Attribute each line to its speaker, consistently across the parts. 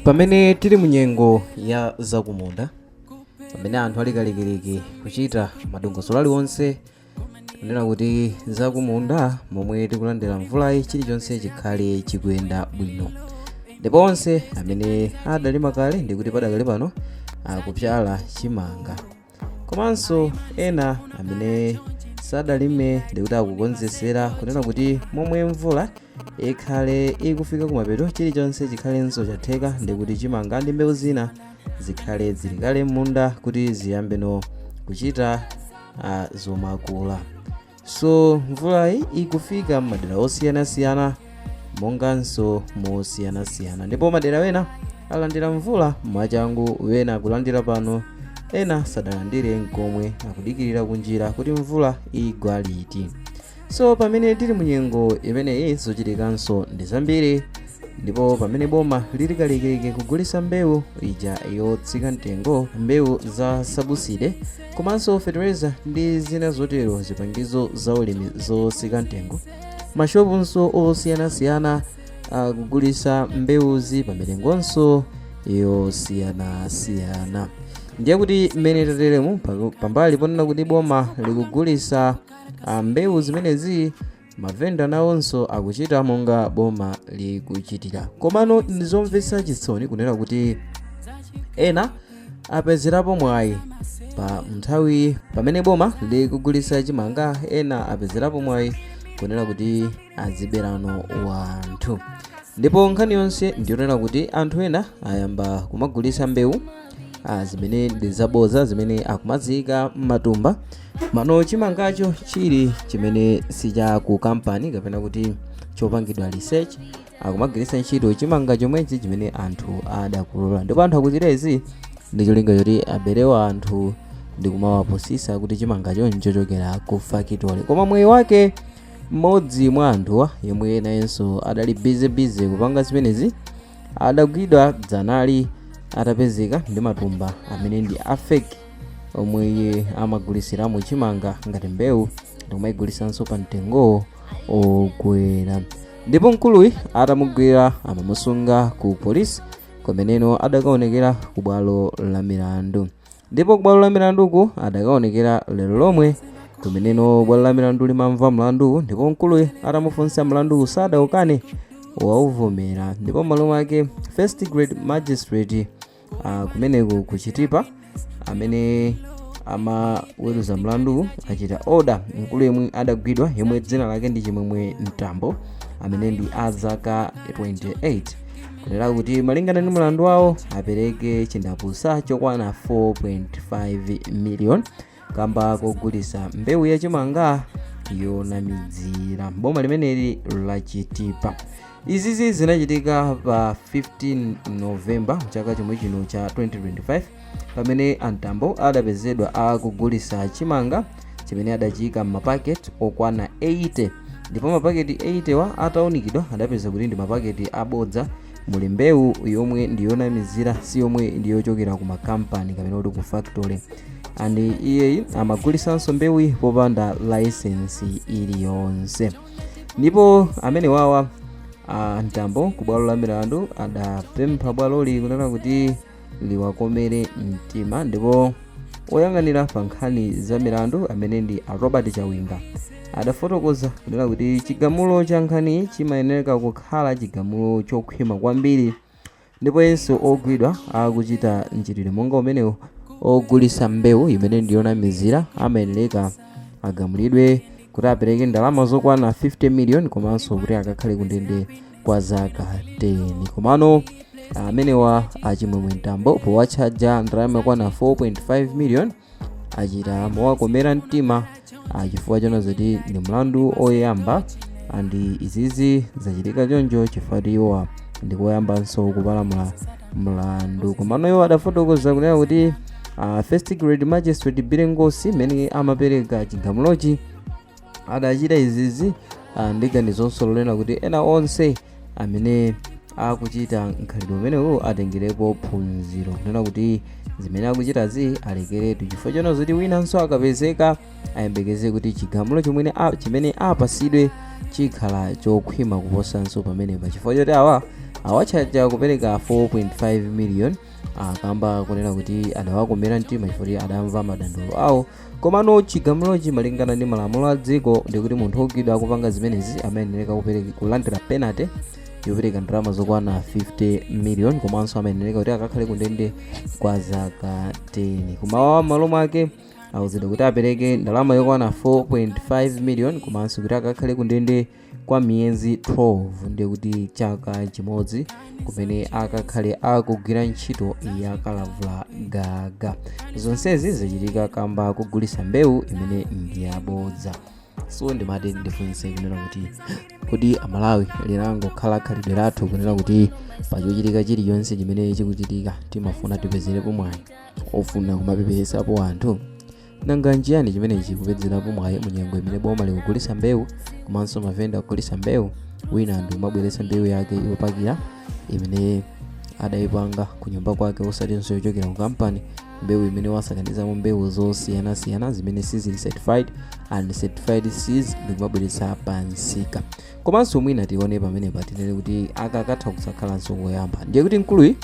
Speaker 1: pamene tili mu nyengo ya zakumunda pamene anthu ali kalikiliki kuchita madongosolo aliwonse kunena kuti zakumunda momwe tikulandira mvulayi chilichonse chikhale chikuyenda bwino ndipo onse amene adalima kale ndikuti padakali pano akupyala chimanga komanso ena amene sadalime ndikuti akukonzesera kunena kuti momwe mvula ikhale ikufika kumapeto chilichonse chikhalenso chatheka ndikuti chimanga ndi mbewu zina zikhale zili kale m'munda kuti ziyambeno kuchita uh, zomakula so mvulayi ikufika m'madera osiyanasiyana monganso mosiyanasiyana ndipo madera wena alandira mvula mwachangu wena akulandira pano ena sadalandire nkomwe akudikirira kunjira kuti mvula igwa liti so pamene tili mu nyengo imeneyi zochitikanso ndi zambiri ndipo pamene boma lili kalikiliki kugulitsa mbewu ija yotsika mtengo mbewu za sabuside komanso fetereza ndi zina zotero zipangizo za ulimi zotsika mtengo mashopunso osiyanasiyana akugulitsa mbewuzi pa mitengonso yosiyanasiyana ndiye kuti mmene tateremu pa- pambali ponena kuti boma likugulitsa ah, mbewu zimenezi Mavenda nawonso akuchita monga boma likuchitira. Komano ndizomvetsa chisoni kunena kuti ena apezerapo mwayi pa nthawi pamene boma likugulitsa chimanga ena apezerapo mwayi kunena kuti aziberano wanthu ndipo nkhani yonse ndiyonena kuti anthu ena ayamba kumagulitsa mbewu ah, zimene ndi zabodza zimene akumaziika m'matumba mano chimangacho chili chimene sicha ku kampani kapena kuti chopangidwa research akumagwiritsa ntchito chimanga chomwechi chimene anthu adakolola ndipo anthu akuchita izi ndi cholinga choti abere wanthu ndi kumawapusitsa kuti chimangacho ndi chochokera ku fakitole koma mwayi wake mmodzi mwa anthuwa yemwe nayenso adali bizebize kupanga zimenezi adagwidwa dzanali atapezeka ndi matumba amene ndi a fake omwe iye amagulitsiramo chimanga ngati mbewu ndikumayigulitsanso pa mtengo wokwera ndipo mkuluyu atamugwira amamusunga ku polisi kumeneno adakaonekera ku bwalo la milandu ndipo ku bwalo la milanduku adakaonekera lero lomwe kumeneno bwalo la milandu limamva mlanduwu ndipo mkuluyu atamufunsa mlanduwu sadaukane wauvomera ndipo m'malo mwake first grade magistrate ah, kumeneko ku chitipa amene amaweruza mlanduwu achita oda mkulu yemwe adagwidwa yemwe dzina lake ndi chimwemwe mtambo amene ndi a zaka 28 kunena kuti malingana ndi mlandu wawo apereke chindapusa chokwana 4.5 million kamba kogulisa mbewu ya chimanga yonamizira boma limeneli la chitipa izizi zinachitika pa 15 novemba chaka chomwe chino cha 2025 pamene a mtambo adapezedwa akugulisa chimanga chimene adachiyika m'mapaketi okwana 80 ndipo mapaketi 80 wa ataunikidwa adapeza kuti ndi mapaketi abodza muli mbewu yomwe ndi yonamizira si yomwe ndi yochokera ku makampani kapena kuti ku factory and iyeyi amagulisanso mbewu popanda layisensi iliyonse ndipo amene wawa a mtambo ku bwalo la milandu adapempha bwaloli kunena kuti liwakomere mtima ndipo oyang'anira pa nkhani za milandu amene ndi a robert chawinga adafotokoza kunena kuti chigamulo cha nkhaniyi chimayenereka kukhala chigamulo chokhwima kwambiri ndipo yense ogwidwa akuchita mchitidwe monga umenewu ogulisa mbewu imene ndiyonamizira amayenereka agamulidwe kuti apereke ndalama zokwana 50 miliyoni komanso kuti akakhale kundende kwa zaka 10 komano amenewa achimwemwe mtambo powatchaja ndalama yokwana 4.5 million achita mowakomera mtima ah, chifukwa chona zoti ndi mlandu oyamba andi izizi zachitika choncho chifukwa choti iwowa ndikoyambanso kupalamula mlandu komano iwo adafotokoza kunena kuti ah, first grade magistrate billy ngosi amene amapereka chigamulochi adachita izizi ah, ndi ganizonso lonena kuti ena onse amene akuchita mkhalidwe umenewu atengerepo phunziro kunena kuti zimene akuchitazi alekeretu chifukwa chona zoti winanso akapezeka ayembekeze kuti chigamulo chimene a- chimene apasidwe chikhala chokhwima kuposanso pamenepa chifukwa choti awa awatchaja kupereka 4.5 million akamba kunena kuti adawakomera mtima chifukwa kuti adamva madandaulo awo komano chigamulochi malingana ndi malamulo a dziko ndikuti munthu wogwidwa akupanga zimenezi amayenereka kulandira penalty yopereka ndalama zokwana 50 million komanso amayenereka kuti akakhale kundende kwa zaka 10 koma awawa m'malo mwake auzidwa kuti apereke ndalama yokwana 4.5 million komanso kuti akakhale kundende kwa miyezi 12 ndiye kuti chaka chimodzi kumene akakhale akugwira ntchito ya kalavula gaga zonsezi zachitika kamba kogulisa mbewu imene ndi yabodza so ndimati ndifunse kunena kuti kodi amalawi linangokhala khalidwe lathu kunena kuti pachochitika chilichonse chimene chikuchitika timafuna tipezerepo mwayi ofuna kumapeperesapo anthu nanga nchiyani chimene chikupezerapo mwayi mu nyengo imene boma likugulitsa mbewu komanso mavenda akugulitsa mbewu wina ndikumabweretsa mbewu yake yopakira imene adayipanga ku nyumba kwake osatinso yochokera ku kampani mbewu imene wasakanizamo mbewu zosiyanasiyana zimene sizili certified uncertified seeds ndikumabweretsa pamsika komanso mwina tione pamenepa tinene kuti aka katha kusakhalanso koyamba ndiye kuti mkuluyi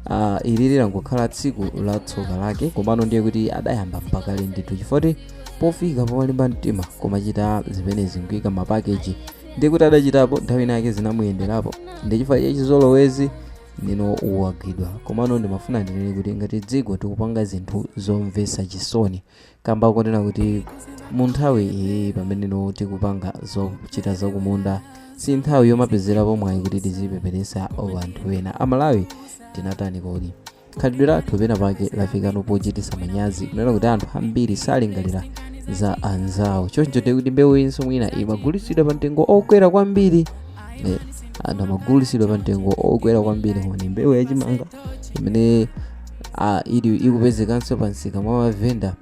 Speaker 1: uh, ili lilangokhala tsiku la tsoka lake komano ndiye kuti adayamba pakale ndithu chifoti pofika pomalimba mtima komachita zimenezi nkuika mapakeji ndiye kuti adachitapo nthawi ina yake zinamuyenderapo ndi chifukwa cha chizolowezi nino wagwidwa komano ndimafuna ndinene kuti ngati dziko tikupanga zinthu zomvetsa chisoni kamba konena kuti mu nthawi iyi pamene no tikupanga zochita zakumunda si nthawi yomapezerapo mwayi kuti tizipepeletsa anthu ena amalawi tinatani kodi khalidwe lathu pena pake lafikano pochititsa manyazi kunena kuti anthu ambiri salingalira za anzawo choncho ndiye kuti mbewuyinso mwina imagulitsidwa pa mtengo okwera kwambiri Eh, anthu amagulitsidwa pa mtengo okwera kwambiri koma ndi mbewu yachimanga imene ah, ili ikupezekanso pa msika mwa mavenda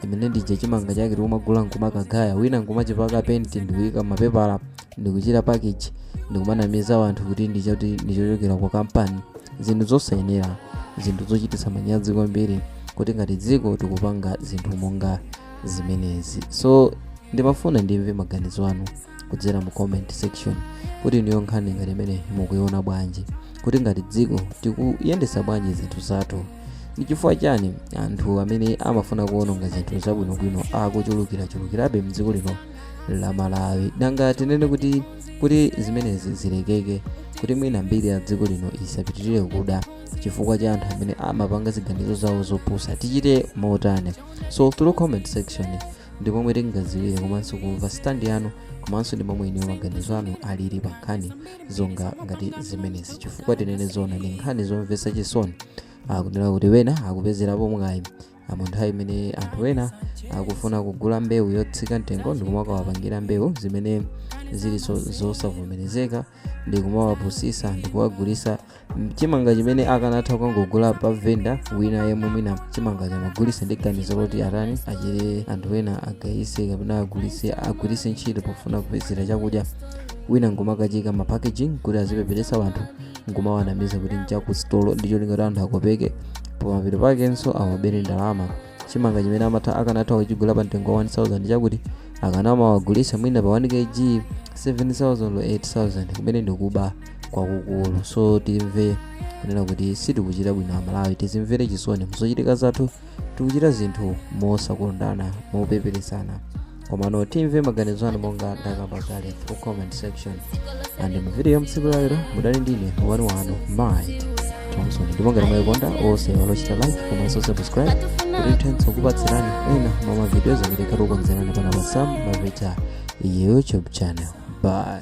Speaker 1: imene nchija chimanga chake tikumagula nkumakagaya wina nkumachipaka penti ndikuyika m'mapepala ndikuchita package ndikumanamiza wanthu kuti ndichoti ndichochokera kwa kampani zinthu zosayenera zinthu zochititsa manyazi kwambiri kuti ngati dziko tikupanga zinthu monga zimenezi so ndimafuna ndimve maganizo anu kudzera mu comment section kuti inuyo nkhani ngati imeneyi mukuiona bwanji kuti ngati dziko tikuyendetsa bwanji zinthu zathu ndi chifukwa chani anthu amene amafuna kuononga zinthu zabwinobwino akuchulukirachulukirabe mdziko lino la malawi nanga tinene kuti kuti zimenezi zilekeke kuti mwina mbiri ya dziko lino isapitirire kuda chifukwa cha anthu amene amapanga ziganizo zawo zopusa tichite motani so through comment section ndi momwe tingadziwire komanso kumva stand yanu komanso ndi momwe inuyo maganizo anu alili pa nkhani zonga ngati zimenezi chifukwa tinene zona ndi nkhani zomvetsa chisoni kunena kuti wena akupezerapo mwayi mu nthawi imene anthu wena akufuna kugula mbewu yotsika mtengo ndikumawapangira mbewu zimene zilinso zosavomerezeka ndi kumawapusitsa ndi kuwagulitsa mm, chimanga chimene akanatha kukangogula pa venda wina yemwe mwina chimanga chomagulitsa ndi ganizo loti atani achite anthu ena agayise kapena agulitse agwiritse ntchito pofuna kupezera chakudya wina nkumakachiika ma packaging kuti azipepeletsa wanthu nkumawanamiza kuti nchakusitolo ndi cholinga kuti anthu akopeke pamapeto pakenso awabere ndalama chimanga chimene akanatha kuchigula pa mtengo wa 1000 chakuti akanamawagulitsa mwina pa 1 kg 7000 or 8000 kumene ndikuba kwakukulu so timve kunena kuti sitikuchita bwino amalawi tizimvere chisoni muzochitika zathu tikuchita zinthu mosakondana mopeperesana komano timve maganizo anu monga ndakamba kale through comment section and mu video ya mtsiku lalero mudali ndine wanu wanu mind thompson ndipo ngati mwayikonda osaiwala kuchita like komanso subscribe kuti tithenso kupatsirani ena mwa mavidiyo amene takukonzerani pana pa sam mavita youtube channel bye